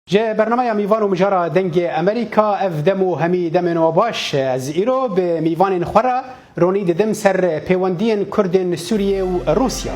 Ji bernameya mîvan û mijara dengê Amerîka ev dem û hemî demên wa baş e. Ez îro bi mîvanên xwe re ronî didim ser pêwendiyên Kurdên Sûriyê û Rûsya.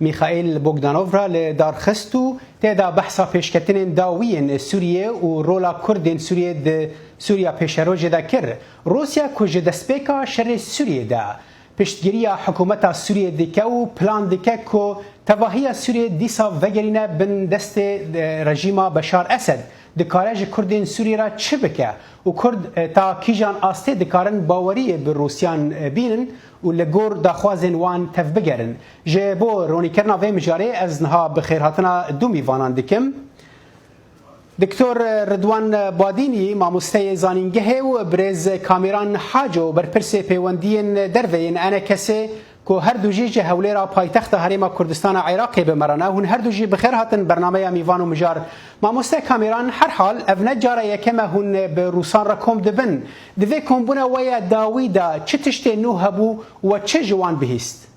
Mîxaîl Bogdanov re li dar xist û tê de behsa pêşketinên dawî yên Sûriyê û rola Kurdên Sûriyê di Sûriya Pêşerojê de kir. Rûsya ku ji destpêka şerê Sûriyê de piştgiriya hikûmeta Sûriyê dike û plan dike ku tevahiya Sûriyê dîsa vegerîne bin destê rejîma Beşar Esed, dikare ji Kurdên Sûriyê re çi bike û Kurd ta kîjan astê dikarin baweriyê bi Rûsyan bînin û li gor daxwazên wan tevbigerin. Ji bo ronîkirina vê mijarê ez niha bi xêrhatina du mîvanan dikim. Doktor Ridwan Badînî mamosteyê zanîngehê û birêz Kamîran Haco berpirsê pêwendiyên derve yên Enekesê ku her du jî ji Hewlêra paytexta Herêma Kurdistana Iraqê bi me re ne. Hûn her du jî bi xêr hatin bernameya Mîvan û Mijar. Mamoste Kamîran herhal ev ne cara yekem e hûn bi rûsan re kom dibin. Di vê kombûna we ya dawî de çi tiştên nû hebû we çi ji wan bihîst?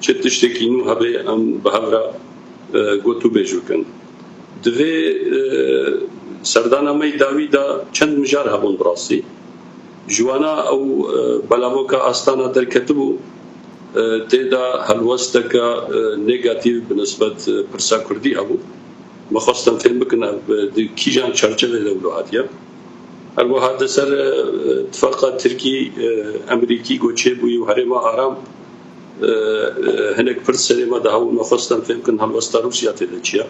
Çi tiştekî nû hebe em bi hev re got û bêj bikin. Di vê serdana me yê dawî de çend mijar hebûn bi rastî. Ji wana ew belavoka Astana derketibû tê de helwesteke negatîf bi nisbet pirsa kurdî hebû. Me xwest em fêm bikin ev di kîjan çarçevê de wilo hatiye. Her wiha di ser tifaqa Tirkî-Emerîkî got çêbûyî û herêma aram, Hinek pirs serê me de hewl me xwestin fêm bikin helwesta Rûsya tê de çi ye.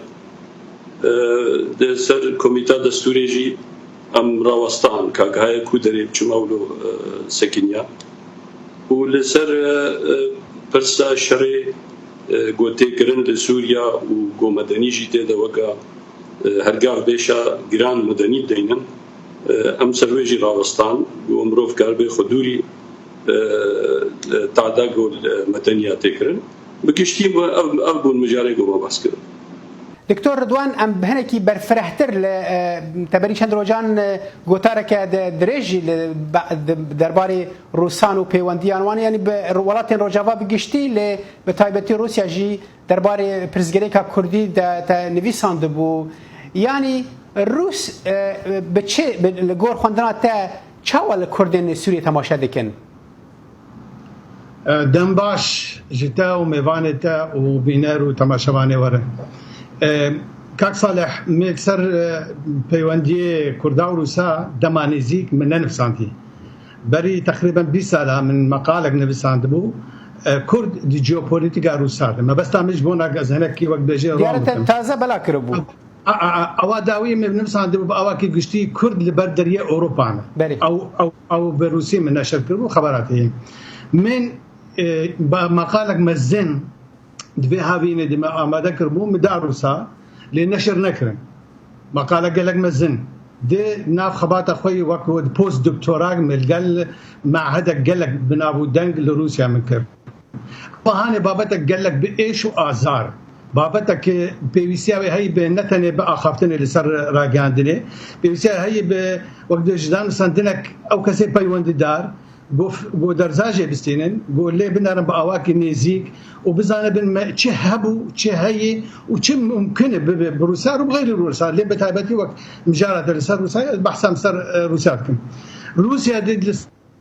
Di ser Komîta Destûrê jî em rawestan ka gihaya ku derê biçûme wilo sekiniya û li ser pirsa şerê ku tê kirin li Sûriya û ku medenî jî tê de weke hergav bêşa giran medenî deynin em ser wê jî rawestan ku mirov karibe xwe dûrî Tahda Gul me tenya tê kirin. Bi giştî ev bûn mijarên ku me behs kirin. Doktor Ridwan em hinekî berfirehtir li teberî çend rojan gotareke dirêj jî li derbarê rûsan û pêwendiyan wan yanî bi welatên rojava bi giştî lê bi taybetî Rûsya jî derbarê pirsgirêka kurdî de te nivîsandibû. Yanî rûs bi çi li gor xwendina te Çawa li Kurdên Sûriyê temaşe dikin? Dembaş ji te û mêvanê te û bîner û temaşevanê were. Kak Saleh, me li ser peywendiyê Kurda û Rûsa dema nêzîk min nenivîsandî. Berî teqrîben bîst sal a min meqalek nivîsandibû Kurd di jeopolîtîka Rûsa de. Mebesta min ji bo na ez hinekî wek dibêjin rom bikim. Diyar e te taze bela kiribû. Awa dawî min nivîsandibû bi awakî giştî Kurd li ber deriyê Ewropa ne. Belê. Ew ew ew bi Rûsiyê min neşer kiribû xebera te ye. Min e, ba- maqalek mezin di vê havînê de me amade kiribû min da Rûsa lê neşer nekirin. Maqale gelek mezin di nav xebata xwe yê wek di post doktorak me li gel mehedek gelek bi nav û deng li Rûsya min kir. Bahanê babetek gelek bi êş û azar, babetek ke pêwîstiya wê heyî bi ne tenê bi axaftinê li ser ragihandinê, pêwîstiya wê heyî bi wek dê ji danistandinek ew kesê peywendîdar go go derzajê bistînin, go lê binerin bi awakî nêzîk û bizanibin me çi hebû, çi heyî û çi mumkin e bibe bi Rûsya rû bi xeyrî Rûsya lê bi taybetî wek mijara te li ser Rûsya ye ez behsa li ser Rûsya dikim. Rûsya dê li.